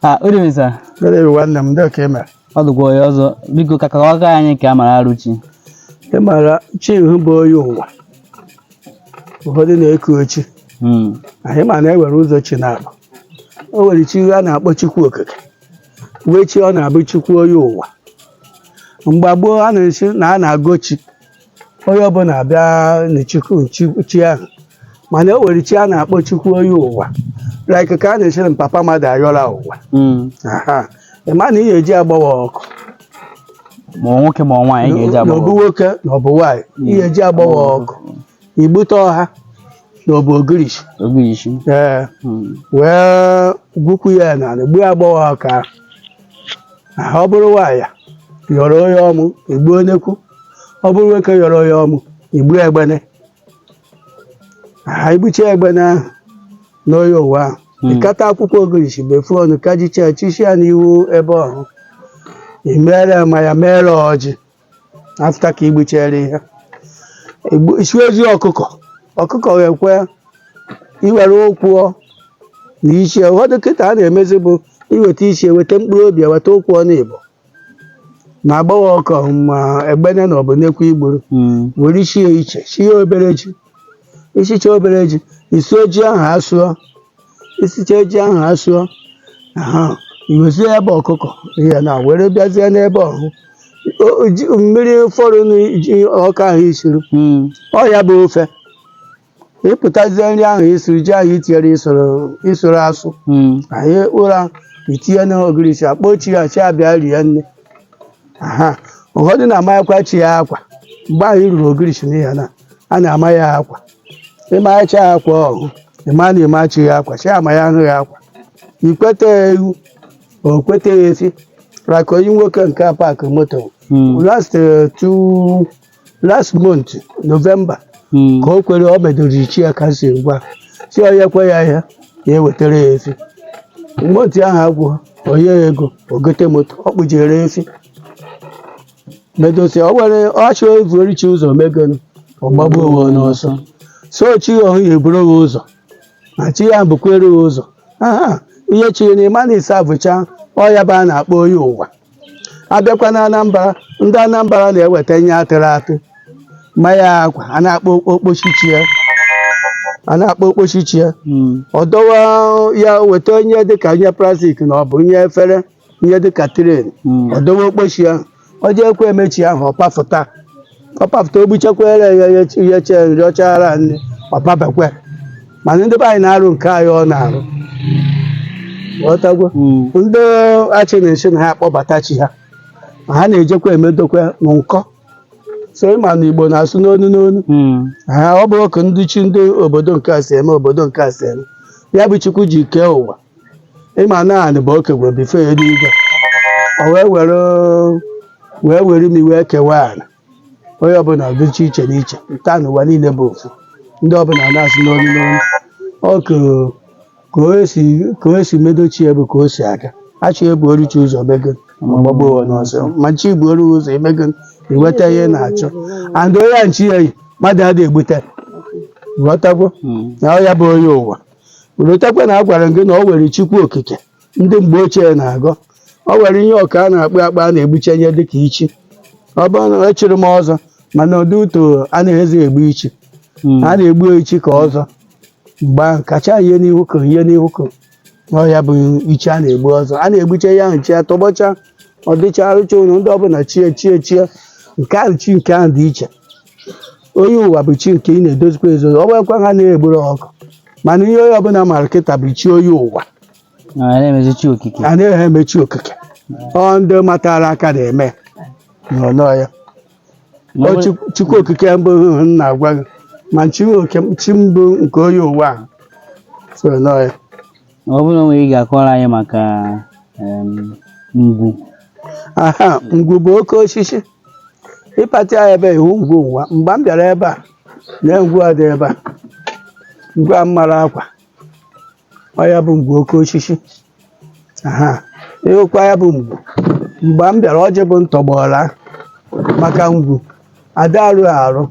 Ah, good evening, sir. Good evening, nwanne m. Ndị ka i mere. Ọ dụkwa ọyị o. Biko ka kọwaga anyị ka a mara Aruchi. Ị ma na chi ahụ bụ onye ụwa. Ụfọdụ na-eku chi. Hmm. Ị ma na e nwere ụzọ chi naabọ. O nwere chi a na-akpọ Chukwu Okike. Nwee chi ọ na-abụ Chukwu onye ụwa. Mgbe gboo a na-asị na a na-agọ chi. onye ọbụla abịa na chukwu chi- chi ahụ mana o nwere chi a na-akpọ chukwu onye ụwa like ka a na-asị na papa mmadụ ayọla ụwa Mm. Aha. ị ma na ị ga-eji agbawa ọkụ ma ọ nwoke ma ọ nwaanyị ga-eji na agba ọ bụ nwoke na ọ bụ nwaanyị ị ga-eji agbawa ọkụ igbute ọha na ọ bụ ogirishi ogirishi ee Mm. wee gwukwu ya n'ala gbuo agbọghọ ọka ahụ. ọ bụrụ nwaanyị yọrọ onye ọmụ i gbuo nnekwu ọ bụrụ nwoke yọrọ onye ọmụ i gbuo egbene ha igbucha egbene ahụ n'onye ụwa ahụ Hmm. ịkata akwụkwọ ogirisi befu ọnụ kajicha chichi ya n'ihu ebe ọhụ i mere mmanya mere ọjị afta ka igbuchere ihe Igbu- isi ozi ọkụkọ ọkụkọ ga-ekwe iwere ụkwụ na isi ụfọdụ kịta a na-emezi bụ iweta isi eweta mkpụrụ obi weta ụkwụ naabọ na agbaghị ọkọ ma egbene na ọ bụ nnekwu i gburu Mm. were isi ya iche sie obere ji isicha obere ji ị sụọ ji ahụ asụọ isicha ji ahụ asụọ aha iwezie ebe ọkụkọ ya na were bịazie n'ebe ọhụ O- o- ji- mmiri fọrọ n'iji ọka ahụ i siri Mm. ọ ya bụ ofe ịpụtazie nri ahụ i siri ji ahụ itinyere isoro isoro asụ Mm. anyị ụra itinye n'ogirisi akpọ chi ya chi abịa rie nri aha ụfọdụ na-amanyekwa chi ya akwa mgbe ahụ iruru ogirisi n'ihi na a na-ama ya akwa ịmanyecha ya akwa ọhụ ịma na ịma chi ya akwa chi ama ya ahụ ya akwa ikweta ya ewu o kweta ya efi raka onye nwoke nke a paakị moto Mm. last eh, two last month novemba Mm. ka o kwere o medoro chi ya ka si ngwa si o nyekwa ya ihe ya ewetara ya efi moto ahụ agwụ o nye ya ego o gote moto ọ kpụjere efi medosi ọ were ọchị evuru chi ụzọ megonu ọgbagbu onwe n'ọsọ so chi ya ọhụ ya eburu gị ụzọ na chi ya bukwere gị ụzọ aha ihe chiri na ịma na ịsa bụcha ọ ya bụ a na-akpọ onye ụwa abịakwa na Anambra ndị Anambra na-eweta ihe atụrụ atụ ma ya akwa a na-akpọ okposi chi ya a na-akpọ okposi chi ya ọ dọwa ya weta ihe dịka ihe plastik na ọ bụ ihe efere ihe dịka tray ọ dọwa okposi ahụ ọ jeekwa eme chi ahụ ọ pafụta ọ papụta o gbuchekwere ya yeche nri ọchara nne ọ pabekwere mana ndị be anyị na-arụ nke anyị ọ na-arụ ghọtagwo ndị achị na-asị na ha akpọbata chi ha ma ha na-ejekwa emedokwa na nkọ so ịma na igbo na-asụ n'onu n'onu ha ọ bụrụ ka ndị chi ndị obodo nke a si eme obodo nke a si eme ya bụ chukwu ji kee ụwa ịma na anị bụ oke gwere bifo enuigwe o wee were wee were imi wee kewaa anị onye ọbụla dịcha iche n'iche nke a n'ụwa niile bụ ofu ndị ọbụla na-asụ n'onu n'onu ọ kụrụ ka o si ka o si emedo chi ya bụ ka o si aga a sị e buoru chi ụzọ mego ọ gbagbuo onwe n'ọsọ ma chi buoru ụzọ emego iweta ihe ị na-achọ and onye ya na chi ya yi mmadụ adịghị egbute ghọtagwo na ọ ya bụ onye ụwa i rotakwa na agwara m gị na ọ were chukwu okike ndị mgbe ochie na-agọ ọ were ihe ọka a na-akpa akpa a na-egbuche ya dịka ichi ọ bụrụ na echiri m ọzọ mana ụdị etu a na-esi egbu ichi Mm. a na-egbu ichi ka ọzọ mgbe ahụ kacha ihe n'ihu ka ihe n'ihu ka ọ ya bụ ichi a na-egbu ọzọ a na-egbuche ya chi ya tọgbọcha ọ dịcha arụcha ụlọ ndị ọbụla chie chie chie nke ahụ chi nke ahụ dị iche onye ụwa bụ chi nke ị na-edozikwa edozi ọ bụghịkwa ha na-egburu ọkụ mana ihe onye ọbụla mara kịta bụ chi onye ụwa na anyị na-emezi chi okike a na-eme eme chi okike ọ ndị matara ka na-eme n'ụnọ ya Ma ọ Ọ bụrụ- Chukwu- chukwu okike mbụ hụhụ m na-agwa gị ma chi nwe oke- chi mbụ nke onye ụwa a so na ya ọ bụrụ na o nwere ihe ị ga-akọrọ anyị maka em, ngwu aha ngwu bụ oke osisi ị pati ya ebe ị hụ ngwu nwa mgbe m bịara ebe a na ngwu a dị ebe a ngwu a mara akwa ọ ya bụ ngwu oke osisi aha ịhụkwa ya bụ ngwu mgbe m bịara ọjị bụ ntọgbọla maka ngwu ada arụ arụ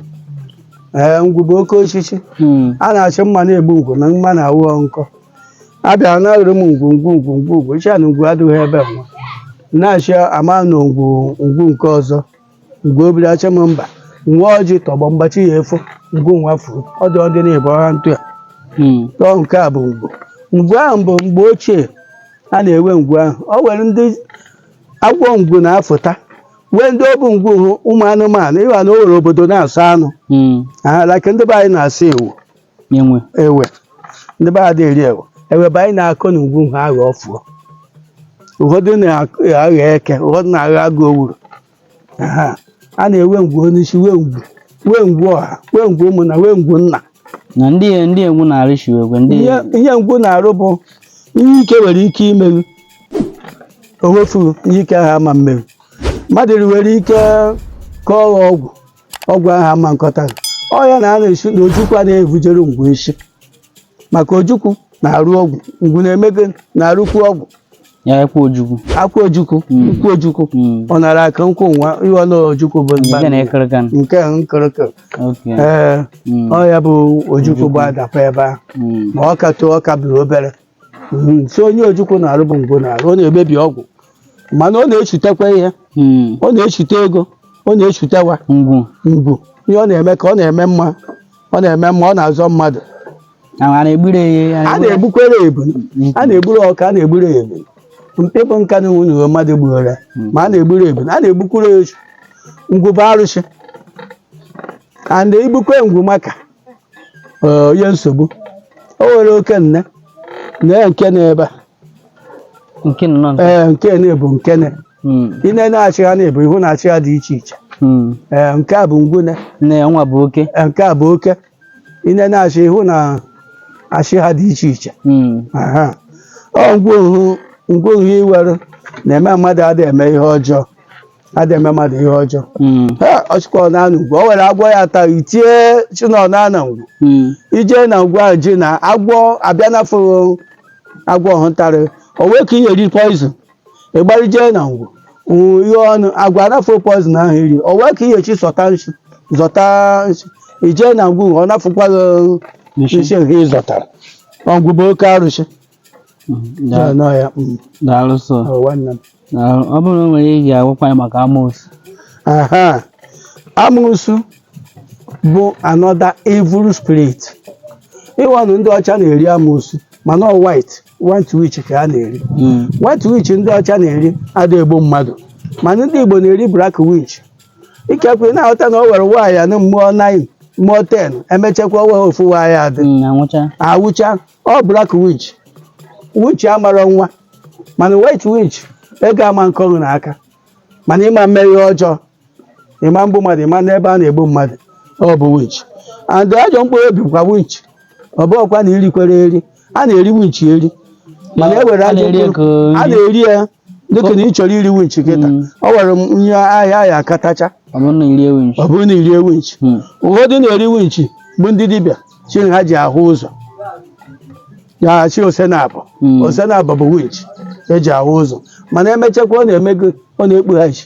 ee ngwu bụ oke osisi Hmm. a na-asị mma na-egbu ngwu na mma na-awụ nkọ a bịara na arụrụ m ngwu ngwu ngwu ngwu ngwu sị na ngwu adịghị ebe nwa na-asị ama na ngwu ngwu nke ọzọ ngwu obiri achị m mba nwa ọjị tọgbọ mgbachi ya efo ngwu nwa furu ọ dị ọdị na-ebu ọha ntụ ya Hmm. tọọ nke a bụ ngwu ngwu ahụ bụ mgbe ochie a na-ewe ngwu ahụ ọ were ndị agwọ ngwu na-afụta wee ndị ọ bụ ngwu ụmụ anụmanụ ịma na o nwere obodo na-asọ anụ Mm. aha like ndị be anyị na-asọ ewe Enwe. ewe ndị be anyị eri ewe ewe bụ anyị na-akọ na ngwu ha aghọ ọfụọ ụfọdụ na-aghọ eke ụfọdụ na-aghọ agụ owuru Aha. a na-ewe ngwu onye isi wee ngwu wee ngwu ọha wee ngwu ụmụnna wee ngwu nna na ndị ya ndị ngwu na-arị shiwe egwe ndị ihe ihe ngwu na-arụ bụ ihe ike nwere ike ime ghụ o wefuru ihe ike ahụ ama mme ghụ mmadụ nwere ike kọọ ghụ ọgwụ ọgwụ ahụ ama nkọta ọ ya na a na-asị na ojukwu a na-ebujere ngwu isi maka ojukwu na-arụ ọgwụ ngwu na-emego na-arụkwu ọgwụ ya akwụ ojukwu akwụ ojukwu Mm. ukwu ojukwu Mm. ọ na-ara ka nkwụ nwa iwe na ojukwu bụ mba nke na ekere kan nke a nkịrịkị oke ee Mm. ọ ya bụ ojukwu bụ adapa ebe ahụ Mm. ma ọ ka too ọ ka bụrụ obere Mhm. so ihe ojukwu na-arụ bụ ngwu na-arụ ọ na-emebi ọgwụ mana ọ na-echutekwa ihe Mm. ọ na-echute ego ọ na-echute nwa ngwu ngwu ihe ọ na-eme ka ọ na-eme mma ọ na-eme mma ọ na-azọ mmadụ a na-egburu ya a na-egbukwere ebulu a na-egburu ọka a na-egburu ebulu mkpi bụ nka na nwunye uwe mmadụ gbuoro ya ma a na-egburu ebulu a na-egbukwuru ya ehi ngwu bụ arụsị adị egbukwe ngwu maka eh, onye nsogbu o nwere oke nne na ya nke na ebe a nke nọ nọ ee nke na bụ nke na Mm, ị na-achị ha na-ebu ihu na-achị ha dị iche iche mm. ee nke a bụ ngwu nne ya nwa bụ oke Ee, nke a bụ oke ine na-achị ihu na-achị ha dị iche iche Mm. aha ọ ngwu ngwu ahụ iwere na-eme mmadụ adịghị eme ihe ọjọọ adịghị eme mmadụ ihe ọjọọ Mm. ha ọchịkọ na anụ ngwu o were agwọ ya taa i tie shi ị nọ na ana ngwu Mm. i je na ngwu ahụ ji na agwọ abịa nafụ agwọ ahụ tara ị o wee ka i ya-eri poizin ị gbara jee na ngwu ngwu ihe ọnụ agwa anafụ poizin ahụ i ri o wee ka i ya-eshi zọta nshi zọta nshi i jee na ngwu ọ nafụkwa gị Nshi. nshi nke ị zọtara ngwu bụ oke arụsị Daa- nọ ya mm, daalụ sọ ọ nwanne m. daalụ ọ bụrụ na o nwere ihe agwakwa anyị maka amoosu aha amụsụ bụ another evil spirit ị wanụ ndị ọcha na-eri amụsụ mana ọ white white witch ka ha na-eri Mm. white witch ndị ọcha na-eri ada egbu mmadụ mana ndị igbo na-eri black witch ikekwe ị na-aghọta na o were nwaanyị anụ mụọ 9 mụọ 10 emechakwa wee ofu nwa ya-adị Mm, anwụcha anwụcha ọ black witch witch amara nwa mana white witch ego ama nkọ ghụ na aka mana ị ma mme ihe ọjọọ ị ma mgbu mmadụ ị ma nọ ebe a na-egbu mmadụ ọ bụ winch and ajọ mkpụrụ obi bụkwa winch ọ bụghịkwa na i rikwere eri a na-eri winch eri mana e were A ajọ na-eri ya ka mkpụrụ o a rie. na-eri ya dịka na ị chọrọ iri winch kịta Mm. ọ were nye a ya a ya-akatacha ọ bụrụ na i rie winch ọ bụrụ na i rie winch Hmm. ụfọdụ na-eri winch bụ ndị dibịa shi ha ji ahụ ụzọ ya shi ose naabọ Mm. ose naabọ bụ winch e ji ahụ ụzọ mana emechakwa ọ na-eme gị ọ na-ekpughachi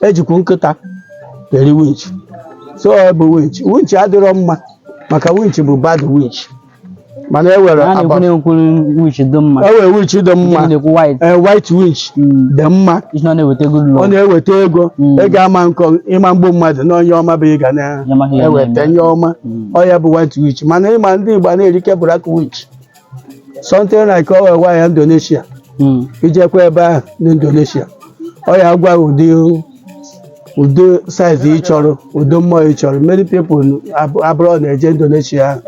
ejikwu nkịta eri winchi so ọ bụ winchi winchi adịrọ mma maka winchi bụ bad winchi mana e nwere a na-ekwu aba- na-ekwuru witch dị mma e nwere winchi dị mma Ndị na-ekwu white ee white winchi Mm. dị mma isi na ọ na-eweta good ọ luck na-eweta ego Mm. ị ga-ama nkọ ị ma egbu mmadụ na ihe ọma bụ ị ga Ya amaghị ya na-eweta na-eme. ihe ọma Mm. ọ ya bụ white witch mana ịma ndị Igbo a na-erike black witch something like o nwere ya Indonesia Mm. ijekwa ebe ahụ n'Indonesia ọ ya gwa gị ụdị ụdị size ị chọrọ ụdị mmụọ ị chọrọ many people ab- abroad na-eje Indonesia ahụ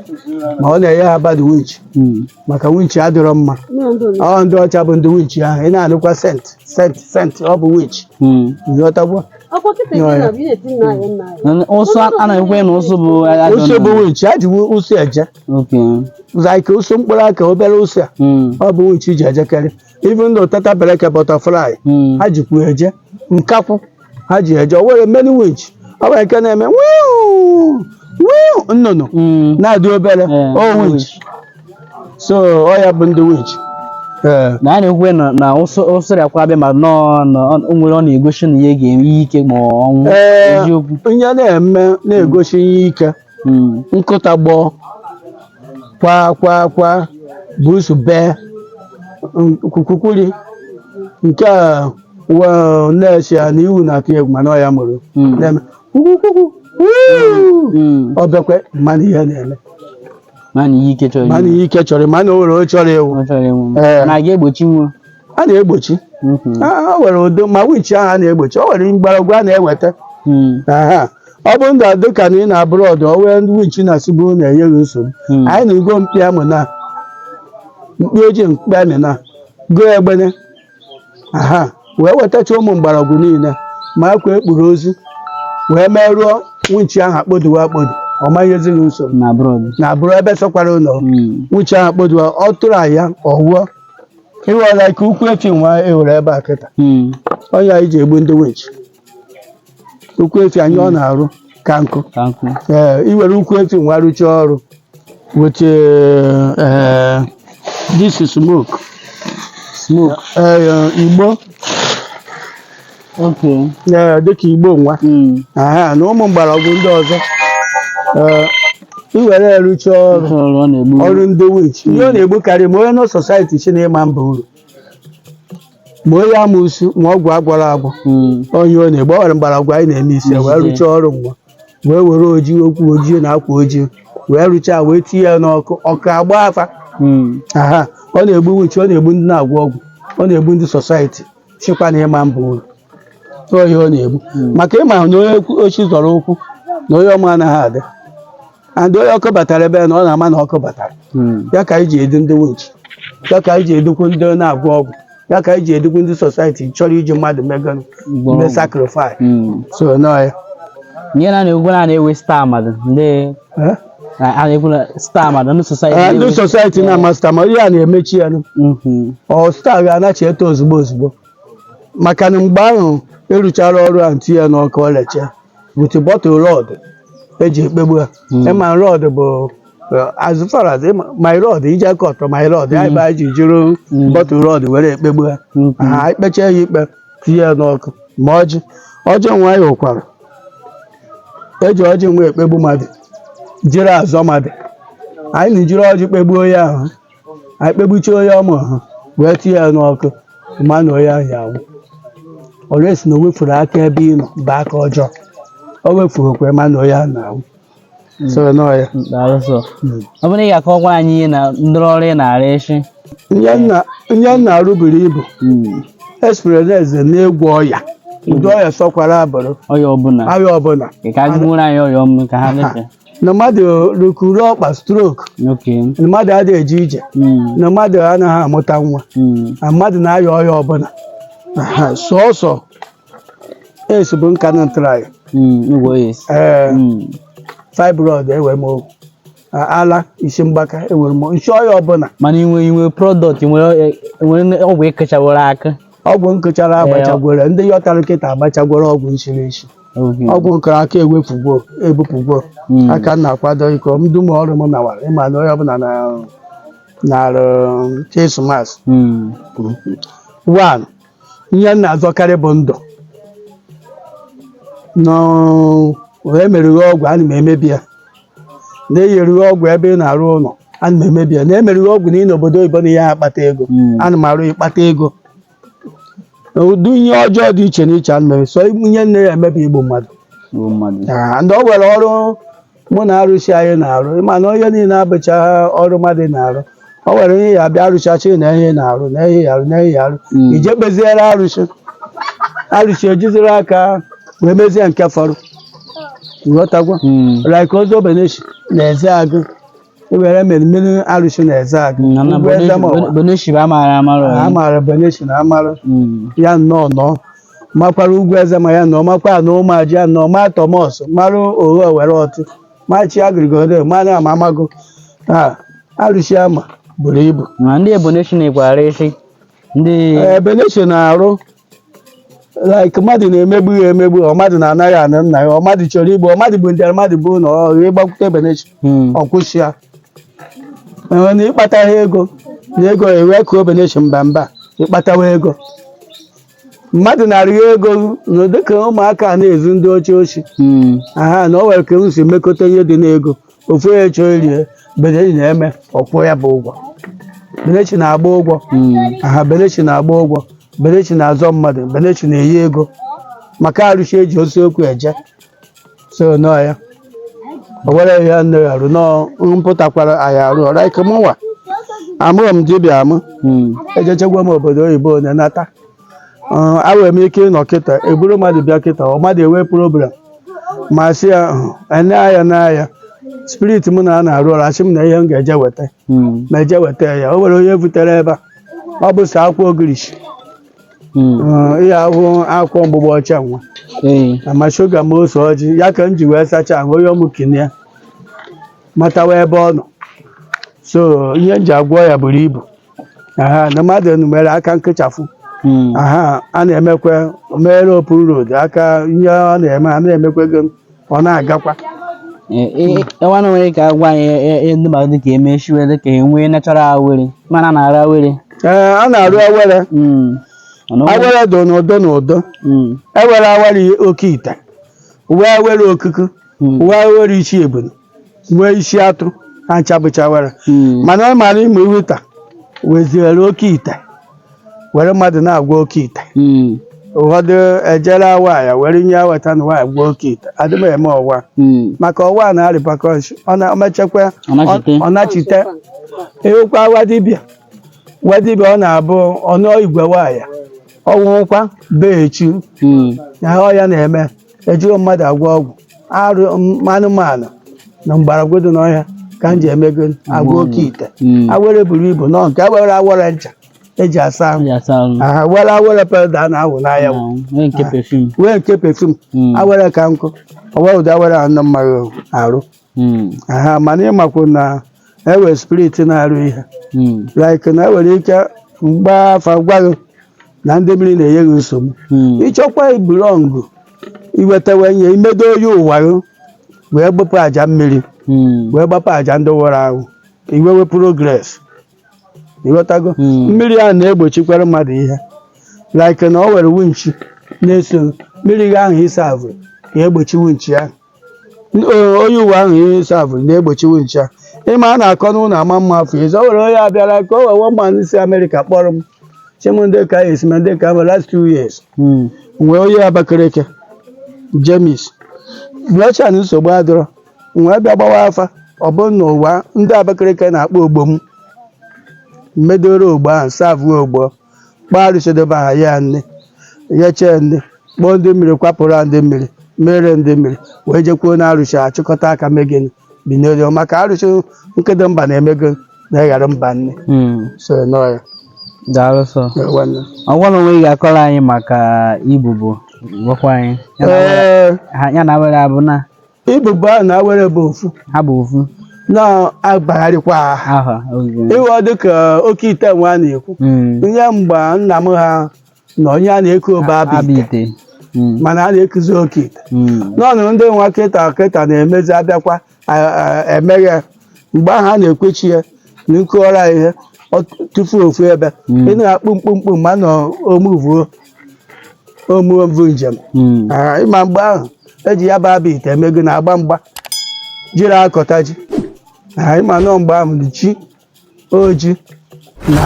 ma ọ na-enye ha bad winch Mm. maka winch adịrọ mma ọ ndị ọcha bụ ndị winch ahụ ị na-anụkwa saint saint saint ọ bụ winch Mm. ghọtagwa Nana- ụsụ a- a na-ekwu na ụsụ bụ ajọ ụsụ bụ nnụnụ. winch a ji wu- ụsụ eje Okay. like ụsụ mkpụrụ aka obere ụsụ a Mm. ọ bụ winch ji ejekarị even though tata bereke butterfly Mm. ha jikwu eje nkakwụ ha ji eje o nwere many winch ọ nwere nke na-eme wiu wiu nnụnụ Mm. na-adị obere Eh, ọ winch so ọ ya bụ ndị winch ee na a na-ekwu na na ụsụ ụsụ bịakwa abịa ma nọọ na ọ- o nwere ọ na-egosi na ihe ga-eme ihe ike ma ọ ọnwụ Ee. eziokwu ihe na-eme na-egosi ihe ike Mm. nkụta gbọọ kwa kwa kwa busu bee kwukwukwuri nke a wa- na-esi ya na iwu na-atụ egwu mana ọ ya mụrụ Mm. na-eme kwukwukwukwu wuu. Mm. o bekwa mana ihe na-eme Mana ihe ike chọrọ mana ime. ihe ike chọrọ mana o nwere o chọrọ ịnwụ Ọ chọrọ ịnwụ. Ee. Na a ga-egbochi nwa. a na-egbochi Mhm. Ah, o nwere ụdị ma wichi ahụ a na-egbochi o nwere mgbọrọgwụ a na-eweta Mm. Aha. ọ bụrụ na dịka na ị nọ abroad o nwere ndị wichi na-asị bụrụ na-enye gị nsogbu Mm. anyị na-ego mkpi amụ na mkpi ojii mkpi amị na goo egbene aha wee wetacha ụmụ mgbọrọgwụ niile ma akwa e kpuru ozu wee merụọ wichi ahụ akpoduwe akpodu ọ ma nyezi gị nsogbu na abroad na abroad ebe sọkwara ị nọ Mm. wichi ahụ akpoduwe ọ tụrụ ya ọ nwụọ ịghọla ka ukwu efi nwa e nwere ebe a kịta Mm. ọ ya anyị ji egbu ndị winch ukwu efi anyị ọ na-arụ ka nkụ Ka nkụ. ee i were ukwu efi nwa rụchaa ọrụ with eh, this is smoke Smoke. eh, igbo ee dịka igbo nwa aha na ụmụ mgbọrọgwụ ndị ọzọ ee i were ya rụcha ọrụ ọrụ ndị witch ihe ọ na-egbukarị ma onye nọ society chi na-ịma mba uru ma onye amụsu ma ọgwụ a gwọrọ agwọ onye ọ na-egbu ọ nwere mgbọrọgwụ anyị na-eme isi ya wee rụcha ọrụ mgbe wee were ojii okwu ojii na akwa ojii wee rụchaa wee tinye ya n'ọkụ ọkụ agbaa fa aha ọ na-egbu witch ọ na-egbu ndị na-agwọ ọgwụ ọ na-egbu ndị society sikwa na ịma mba uru tụọ ihe ọ na-egbu maka ịma na onye kwu- ochi zọrọ ụkwụ na onye ọma anaghị adị and onye ọkụ batara ebe a na ọ na-ama na ọkụ batara Mm. ya ka anyị ji edu ndị winchi ya ka anyị ji edukwu ndị na-agwọ ọgwụ ya ka anyị ji edukwu ndị society chọrọ iji mmadụ mee gịnị Gwọrọ ndị ọgwụ. sacrifice Mm. so nọ ya ihe na na-egwu na na-ewe star mmadụ ndị Eh? Na- a na-ekwu na star ma na ndị society Ee, ndị na-eme- society na-ama star ma ihe a na-emechi ya nụ. Mhm. ọ star ga-anachi eto ozugbo ozugbo maka na mgbe ahụ a rụchara ọrụ ahụ tinye ya n'ọkụ ọ recha with bottle rod eji ekpegbu ya Mm. ịma rod bụ eh, as far as ịma- my rod iji aka ọtọ my rod ya ebe anyị ji jiri Mm. bottle rod were ekpegbu ya Mhm. ha ekpecha ya ikpe tinye ya n'ọkụ ma ọjị ọjị nwa anyị hụkwara eji ọjị nwa ekpegbu mmadụ jiri azọ mmadụ anyị na-ejiri ọjị kpegbuo onye ahụ anyị kpegbuchie onye ọma ahụ wee tinye ya n'ọkụ ma na onye ahụ ya anwụ unless na o wefuru aka ebe ị nọ bụ aka ọjọọ o wefuru okwe ma na onye ahụ na-anwụ so nọ ya daalụ so ọ bụrụ na ị ga-akọwakwa anyị ihe na ndọrọ ọrụ ị na-arụ echi ihe m na- ihe m na-arụ buru ibu especially n'ịgwọ ọya ụdị ọya sọkwara ya bụrụ ọya ọbụla ahịa ọbụla ị ka gụrụ anyị ọya ọmụ ka ha lefe na mmadụ rukuru ọkpa stroke okay na mmadụ adịghị eje ije Mm, na mmadụ anaghị amụta nwa mm, na mmadụ na-aya ọya ọbụla Aha, sọsọ AIDS bụ nke ana m try Mm, igwe yes. ee Mm. fibroid ewere m okwu A- ala isi mgbaka ewere m nsi ọya ọbụla mana inwe inwe product nwere nwere ọgwụ ekechaworo aka ọgwụ m kụchara agbachagworo ndị yọtara m kịta agbachagworo ọgwụ m siri esi Okay. ọgwụ m kụrụ aka ewepụgwo ebupụgwo Mm. aka m na-akwado iko m dum ọrụ m nawara ịma na onye ọbụla na na krismas Mm. one ihe m na-azọkarị bụ ndụ na e merụ gị ọgwụ ana m emebi ya na e yeru gị ọgwụ ebe ị na-arụ ụlọ ana m emebi ya na e merụ gị ọgwụ na ị n'obodo oyibo na ihe akpata ego Mm. ana m arụ ị kpata ego na ụdị ihe ọjọọ dị iche n'iche ana m eme sọ ihe m na ya eme bụ igbu mmadụ Igbu mmadụ. Ah, ndị o nwere ọrụ mụ na arụsị anyị na-arụ ịma na ihe niile abụcha ọrụ mmadụ na-arụ o nwere ihe ya bịa arụsị asị na ihe na-arụ na ihe ya arụ na ihe ya arụ Mm. ije kpeziere arụsị arụsị ejiziri aka wee mezie nke fọrọ ị ghọtagwo Mm. like ozobeneshi na eze agụ e were imerime arụsị na Ezeagụ Na- na ugwu Bonu- eze ma Bonu- ọwa Bonu Shiba amaara amarụ a ọyị. maara beneshi na amarụ Mm. ya nnọọ nọ makwara ugwu eze ma ya nọ makwa na Ụmụaji ya nọ ma tọmọs mara Oghe were ọtụ machi agrigodo mana ama amago taa arụsị ama buru ibu Ma ndị Ebonyi na-ekwara isi ndị Eh, beneshi na-arụ like mmadụ na-emegbu ya emegbu ọ mmadụ na-anaghị anụ nna ya ọ mmadụ chọrọ igbu ọ mmadụ bụ ndị mmadụ bụ na ọ ịgbakwute beneshi Hmm. ọ kwụsị ya enwe na ịkpata ha ego na ego ewe ka obeneshi mba mba ịkpatawa ego mmadụ na-arịọ ego na dịka ụmụaka a na-ezu ndị ọcha oshi Hmm. aha na o nwere ka m si mekọta ihe dị n'ego ofu onye chọrọ iri ya beneshi na-eme ọ kwụọ ya bụ ụgwọ beneshi na-agba ụgwọ aha beneshi na-agba ụgwọ beneshi na-azọ mmadụ beneshi na-eyi ego maka arụshi e ji eziokwu eje so nọ ya o were ya nne ya arụ nọ mpụtakwara anyị arụ ọrụ ike mụnwa amụrọ m dibịa amụ ejechegwa m obodo oyibo na nata Uh, awere m ike ịnọ kịta eburu mmadụ bịa kịta ọ mmadụ ewee problem m asị ya ene aya na aya spirit m na a na-arụ ọrụ asị m na ihe m ga-eje weta Mm, m eje weta ya o nwere onye e butere ebe a ọ bụ sọ akwụkwọ ogirishi mm, Uh, ihe ahụ akwụkwọ mgbụgbọ ọcha nwa ee, ma shuga ma ose ọjị ya ka m ji wee sachaa ahụ onye ọmụ kinie matawa ebe ọ nọ so ihe m ji agwọ ya buru ibu aha na mmadụ enumere aka nkụchafụ Mm. aha a na-emekwa mere open road ka ihe ọ na-eme a na-emekwa ego ọ na-agakwa Eh, eh, enwe na nwere ka agwa anyị eh, eh, eh, ndị mmadụ dịka emechiwe dịka enwe natural awere mana na-arụ awere ee a na-arụ awere Mm. Mana o- awere dị n'ụdị n'ụdị Mm. e were awere oke ite wee awere okuku Mm. wee awere ishi ebunu wee isi atụ ha ncha bụcha awere Mm. mana ọ mara ime iweta weziere oke ite were mmadụ na-agwọ oke ite Mm. ụfọdụ eje raa nwaanyị were ihe e weta na nwaanyị gwọọ oke ite adị m eme ọwa Mm. maka ọwa a na repercussion ọ na-emechekwa Ọ nachite. ọ nachite ewekwa awa dibịa wa dibịa ọ na-abụ ọ nụọ igwe nwaanyị ọ nwụkwa bee echi Mm. na ọ ya na-eme ejiro mmadụ agwọ ọgwụ arụ m- anụmanụ na mgbọrọgwụ dị n'ọhịa ka m ji emego agwọ oke ite Mm. awere buru ibu nọ nke awere awere ncha eji asa ahụ Ya saa ahụ. aha were awere powder a na-awụ n'ahụ awụ. Na nwee nke perfume. wee nke perfume Mm. awere ka nkụ ọwa ụdị awere anọ mmaghị arụ Mm. aha mana ị makwa na e we spirit na-arụ ihe Mm. like na enwere ike m gbaa afa gwa gị na ndị mmiri na-enye gị nsogbu Mm. ị chọkwa ịbelong iwetawe ihe imedo onye ụwa gị wee gbapụ aja mmiri Mm. wee gbapụ aja ndị nwụrụ anwụ iwewe progress ị ghọtago Mm. mmiri ahụ na-egbochikwara mmadụ ihe like na o were wunchi na-eso mmiri gị ahụ ị serve ga-egbochi wunchi ahụ Ee, onye ụwa ahụ ị serve na-egbochi wunchi ahụ. ịma a na-akọ n'ụlọ ama mma afọ ịzọ o were onye bịara ka o wee wụọ mmanụ si Amerịka kpọrọ m chi m ndị ka esi ma ndị ka m last two years Mm. nwee onye Abakaliki James blọchan nsogbu adịrọ wee bịa gbawa afa ọ bụrụ na ụwa ndị Abakaliki na-akpọ ogbo m medoro ogbo ahụ serve ogbo kpọọ arụsị dị be ha ya nne nyechee nne kpọọ ndị mmiri kwapụrụ ha ndị mmiri mere ndị mmiri wee jekwuo na arụsị achịkọta aka mee gịnị binyere maka arụsị nkedo mba na-emego na ịghara mba nne Mm. so nọ ya daalụ sọ Ya nwanne. ọgwa na onwe ị ga-akọrọ anyị maka ibubo gwakwa anyị Ya na- Ee, ha- ya na awere abụ na Ibubo ahụ na awere bụ ofu ha bụ ofu na-agbagharịkwa aha aha oge ịghọ dịka oke ite nwa a na-ekwu Mm. ihe mgbe nna m ha na onye a na-eku obe abụ abụ ite ite Mm. mana a na-ekuzi oke ite Mm. n'ọnụ ndị nwa kịta kịta na-emezi abịakwa a- a- emeghe mgbe ahụ a na-ekwechi ya na nkụọra ihe ọ tụfuo ofu ebe Mm. ị na-akpụ mkpụmkpụ ma nọ omuvuo omume mbụ njem Mm. Ah, ịma mgbe ahụ eji ya bụ abụ ite eme gịnị agba mgba jiri akọta ji Ah, ịma na mgbe ahụ dị chi oji na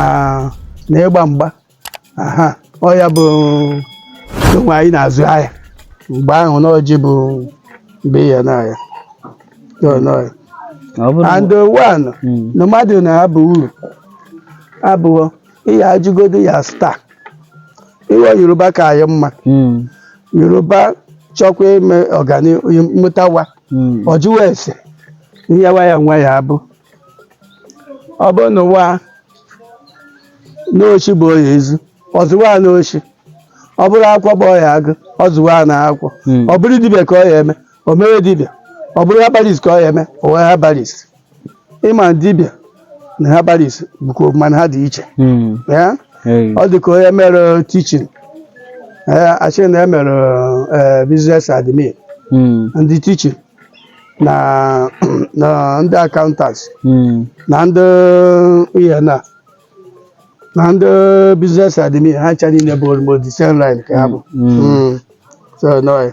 na ịgba mgba aha ọ ya bụ o nwe onye na-azụ ahịa mgbe ahụ na ọjị bụ mgbe ya na ahịa Ọ nọ ya. Ọ bụrụ and one Mm. na mmadụ na-abụ uru abụọ ihe ajụgodu ya star iwe Yoruba ka anyị mma Mm, Yoruba chọkwa ime ọganihu mụtawa mm, ọ jụwa ese ihe nwa ya nwa ya abụ ọ bụrụ nwa n'oshi bụ ọ ya ezu ọ zụwa n'oshi ọ bụrụ akwụkwọ bụ ọ ya agụ ọ zụwa na akwụkwọ mm. ọ bụrụ dibịa ka ọ ya eme o mere dibịa ọ bụrụ herbalist ka ọ ya eme o wee herbalist ịma dibịa na herbalist bụkwa mana ha dị iche Mm. ya Hey. ọ dị ka onye mere teaching a sị na e mere eh, business admin Mm. ndị teaching na na ndị accountants Mm. na ndị ihe na na ndị business admin ha ncha niile bụ almost the same line ka ha bụ Mm. Mm. so no